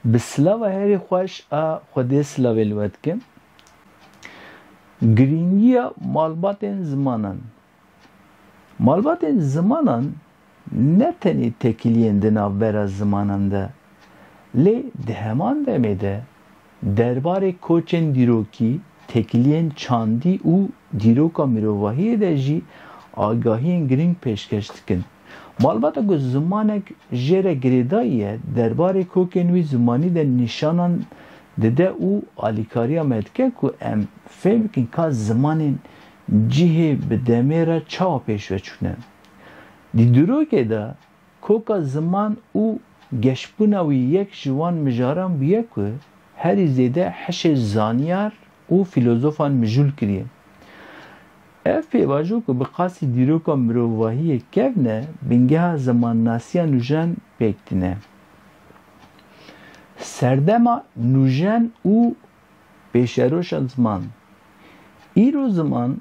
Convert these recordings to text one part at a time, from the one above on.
Bi silava herî xweş a Xwedê silavê li we dikim. Girîngiya malbatên zimanan. Malbatên zimanan ne tenê tekiliyên di navbera zimanan de lê di heman demê de Derbarê koçên dîrokî, têkiliyên çandî û dîroka mirovahiyê de jî agahiyên girîng pêşkeş dikin. Malbata ku zimanek jê re girêdayî ye, derbarê kokên wî zimanî de nîşanan dide û alîkariya me dike ku em fêm bikin ka zimanên cihê bi demê re çawa pêşveçûne. Di dîrokê de Koka ziman û geşbûna wî yek ji wan mijaran bûye ku herî zêde hişê zanyar û fîlozofan mijûl kiriye. Ev pêvajo ku bi qasî dîroka mirovahiyê kevne bingeha zimannasiya nûjen pêk tîne. Serdema nûjen û pêşeroşa ziman. Îro ziman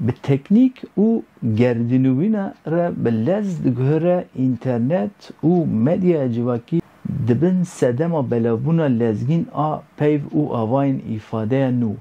Bi teknîk û gerdînûvîna re bi lez diguhere înternet û medyaya civakî di bin sedema belavbûna lezgîn a peyv û avayên îfadeya nû.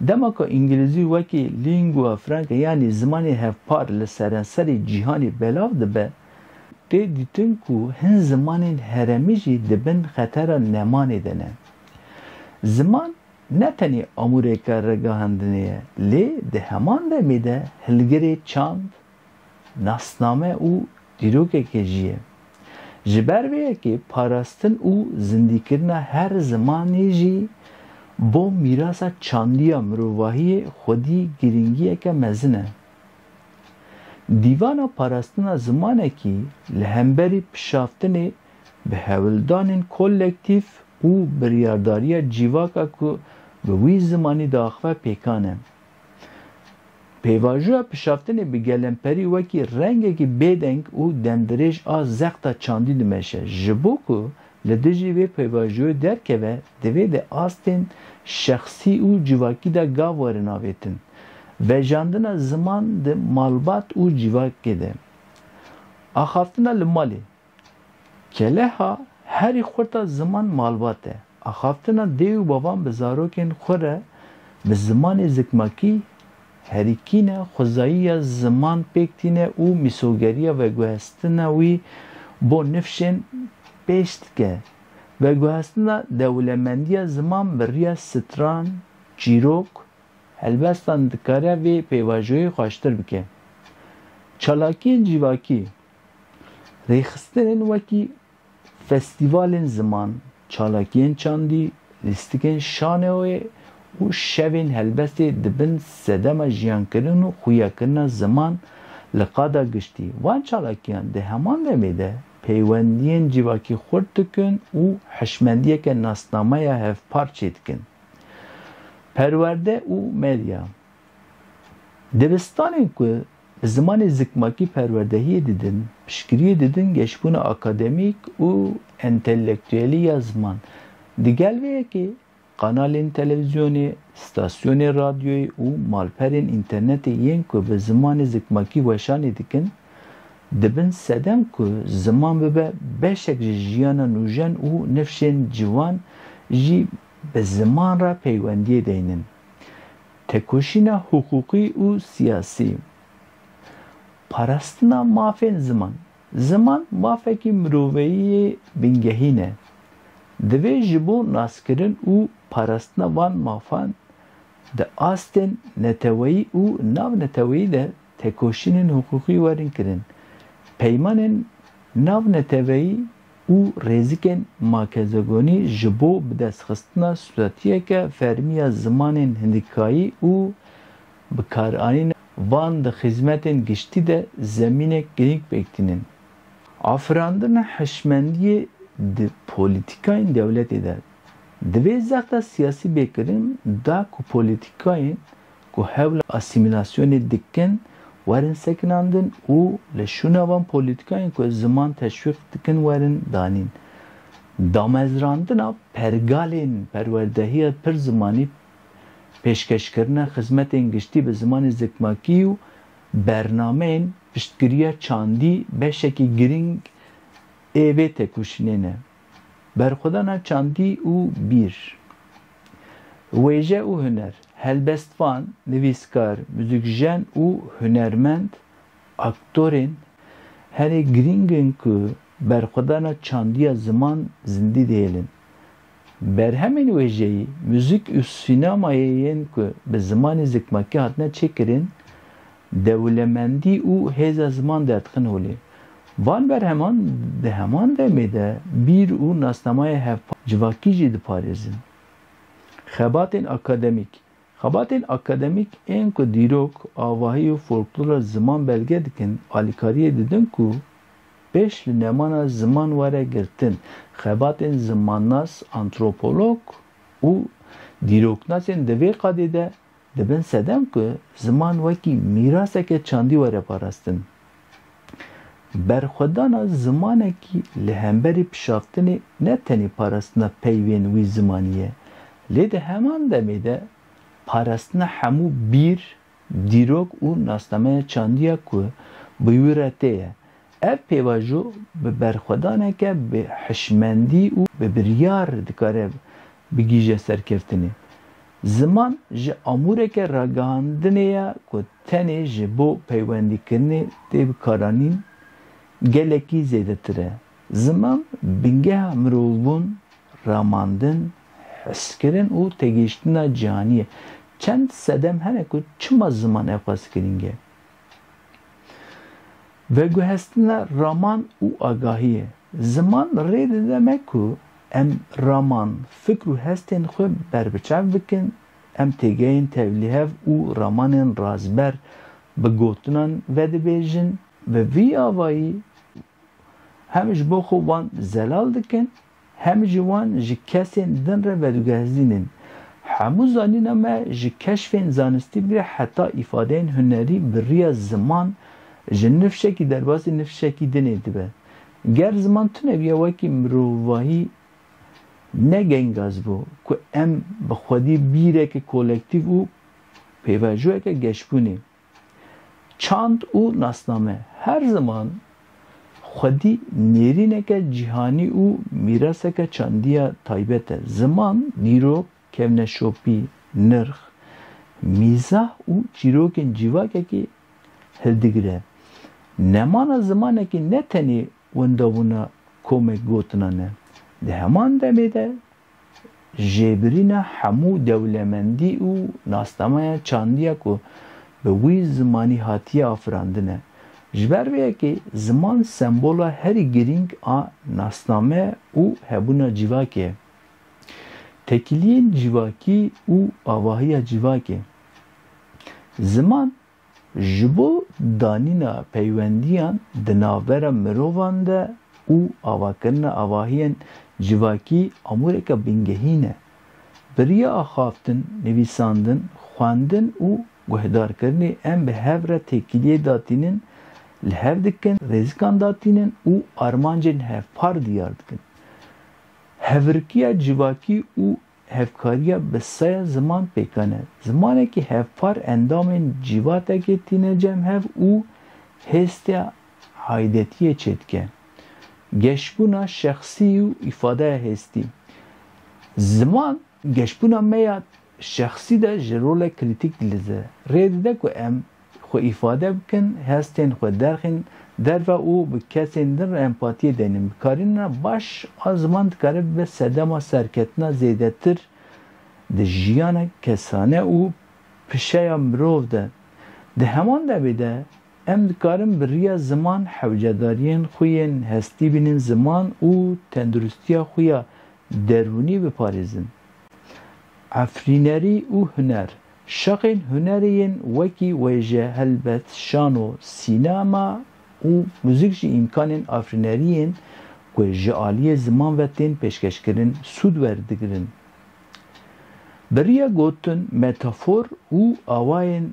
Dema ku îngilîzî wekî lingua franca yanî zimanê hevpar li serenserê cîhanê belav dibe, tê dîtin ku hin zimanên herêmî jî di bin xetera nemanê de ne. Ziman ne tenê amûreke ragihandinê ye lê di heman demê de hilgirê çand, nasname û dîrokeke jî ye. Ji ber vê yekê parastin û zindîkirina her zimanê jî bo mîrasa çandiya mirovahiyê xwedî girîngiyeke mezin e. Dîvana Parastina Zimanekî li hemberî pişaftinê Bi hewldanên kolektîf û biryardariya cîvaka ku bi wî zimanî diaxive pêkan e. Pêvajoya pişaftinê bi gelemperî wekî rengekî bêdeng û demdirêj a zexta çandî dimeşe. Ji bo ku li dijî vê pêvajoyê derkeve divê di astên şexsî û cîvakî de gav werin avêtin. Vejandina ziman di malbat û cîvakê de. Axaftina li malê. Keleha herî xurta ziman malbat e. Axaftina dê û bavan bi zarokên xwe re bi zimanê zikmakî herî kîn e, xwezayî ya ziman pêk tîne û mîsogeriya veguhestina wî bo nifşên pêş dike. Veguhestina dewlemendiya ziman bi riya stran, çîrok, helbestan dikare vê pêvajoyê xweştir bike. Çalakiyên civakî. Rêxistinên wekî festîvalên ziman, çalakiyên çandî, lîstikên şaneoyê û şevên helbestê di bin sedema jiyankirin û xûyakirina ziman li qada giştî van çalakiyan di heman demê de peywendiyên civakî xurt dikin û hişmendiyeke nasnameya hevpar çêdikin. Perwerde û medya Dibistanên ku Bi zimanê zikmakî perwerdehiyê didin, piştgiriyê didin geşbûna akademîk û entelektuelî ya ziman. Di gel vê yekê kanalên televîzyonê, stasyonên radyoyê û malperên înternetê yên ku bi zimanê zikmakî weşanê dikin, dibin sedem ku ziman bibe beşek ji jiyana nûjen û nifşên ciwan jî bi ziman re peywendiyê deynin. Tekoşîna hiqûqî û siyasî, parastina mafên ziman. Ziman mafekî miroveyî yê bingehîn e. Divê ji bo naskirin û parastina van mafan di astên neteweyî û navneteweyî de Tekoşînên hiqûqî werin kirin. Peymanên nav neteweyî û rêzikên makezogonî ji bo bidestxistina suretiyeke fermî ya zimanên hindikayî û bikaranîna wan di xizmetên giştî de zemînek girîng pêk tînin. Afirandina hişmendiyê di polîtîkayên dewletê de divê zexta siyasî bê kirin da ku polîtîkayên ku hewla asîmîlasyonê dikin werin sekinandin û li şûna van polîtîkayên ku ziman teşwîq dikin werin danîn. Damezrandina pergalên perwerdehiya pir zimanî, pêşkeşkirina xizmetên giştî bi zimanê zikmakî û bernameyên piştgiriya çandî beşekî girîng ê vê têkoşînê ne. Berxwedana çandî û bîr, wêje û huner, helbestvan, nivîskar, muzikjen û hunermend, aktorên herî girîng in ku berxwedana çandiya ziman zindî dihêlin. Berhemên wêjeyî, muzik û sînemayê yên ku bi zimanê zikmakî hatine çêkirin Dewlemendî û hêza ziman derdikin holê. Van berheman di heman demê de bîr û nasnameya hevpar, civakî jî diparêzin. Xebatên akademîk Xebatên akademîk ên ku dîrok, avahî û folklora ziman belge dikin, alîkariyê didin ku pêş li nemana ziman were girtin. Xebatên zimannas, antropolog û dîroknasên di vê qadê de Di bin sedem ku ziman wekî mîraseke çandî were parastin, berxwedana zimanekî li hemberî pişaftinê ne tenê parastina peyvên wî zimanî ye, lê di heman demê de parastina hemû bîr, dîrok û nasnameya çandî ye ku bi wî re tê ye. Ev pêvajo bi berxwedaneke bi hişmendî û bi biryar dikare bigihîje serkeftinê. Ziman ji amûreke ragihandinê ye ku tenê ji bo peywendîkirinê tê bikaranîn gelekî zêdetir e. Ziman bingeha mirovbûn, ramandin, hiskirin û têgihiştina cîhanî ye. Çend sedem hene ku çima ziman ewqas girîng e. Veguhestina raman û agahiyê, Ziman rê dide me ku em raman, fikr û hestên xwe berbiçav bikin, em têgehên tevlîhev û ramanên razber bi gotinan vedibêjin, bi vî avayî hem ji bo xwe wan zelal dikin, Hem jî wan ji kesên din re vedigehizîn in. Hemû zanîna me ji keşfên zanistî bigire heta îfadeyên hunerî bi riya ziman ji nifşekî derbasî nifşekî dinê dibe. Ger ziman tune biya wekî mirovahî ne gengaz bû ku em bi xwedî bîreke kolektîv û pêvajoyeke geşbûnê Çand û nasname her ziman xwedî nêrîneke cîhanî û mîraseke çandî ya taybet e. Ziman, dîrok, kevneşopî, nirx, mîzah û çîrokên cîvakekî hildigire. Nemana zimanekî ne tenê Wenda bûna komek gotina ne. Di heman demê de jêbirîna hemû dewlemendî û nasnameya çandî ya ku bi wî zimanî hatiye afirandin e. Ji ber vê yekê ziman sembola herî girîng a nasname û hebûna civakê ye. Tekiliyên civakî û avahiya civakê. Ziman Ji bo danîna peywendiyan di navbera mirovan de û avakirina avahiyên civakî amûreke bingehîn ne. Bi riya axaftin, nivîsandin, xwendin û guhdarkirinê em bi hev re têkiliyê datînin, li hev dikin, rêzikan datînin û armancên hevpar diyar dikin. Hevrikîya civakî û Hevkariya bi sey ziman pêkan e. Zimanekî hevpar endamên cîvatekê tîne cem hev û hêstiya aîdetiyê çêdike. Geşbûna şexsî û îfadeya hêstî. Ziman geşbûna me ya şexsî de ji rolek krîtîk dilîze. Rê dide ku em xwe îfade bikin, hestên xwe derxîn derve û bi kesên din re empatiyê denin. Bikarînina baş a ziman dikare bibe sedema serketina zêdetir di jiyana kesane û pişeya mirov de. Di heman devê de em dikarin bi riya ziman hewcedariyên xwe yên hestî bînin ziman û tenduristiya xwe ya derûnî biparêzin. Efrînerî û huner Şexên hunerê yên wekî wêje helbet şano, sînema û muzîk jî îmkanên afirînerî yên ku ji aliyê ziman ve tên pêşkeşkirin sûd werdigirin. Bi riya gotin, metafor û awayên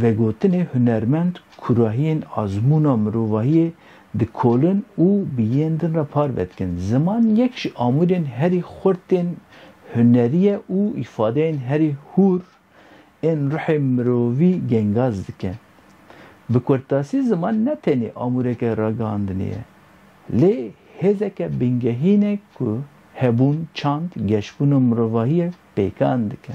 vegotinê hunermend kurahiyên azmûna mirovahiyê Dikolin û bi yên din re parve dikin. Ziman yek ji amûrên herî xurt tên huneriyê û îfadeyên herî hûr ên ruhê mirovî gengaz dike. Bi kurtasî ziman ne tenê amûreke ragihandinê ye, lê hêzeke bingehîn e ku hebûn, çand, geşbûn û mirovahiyê pêkan dike.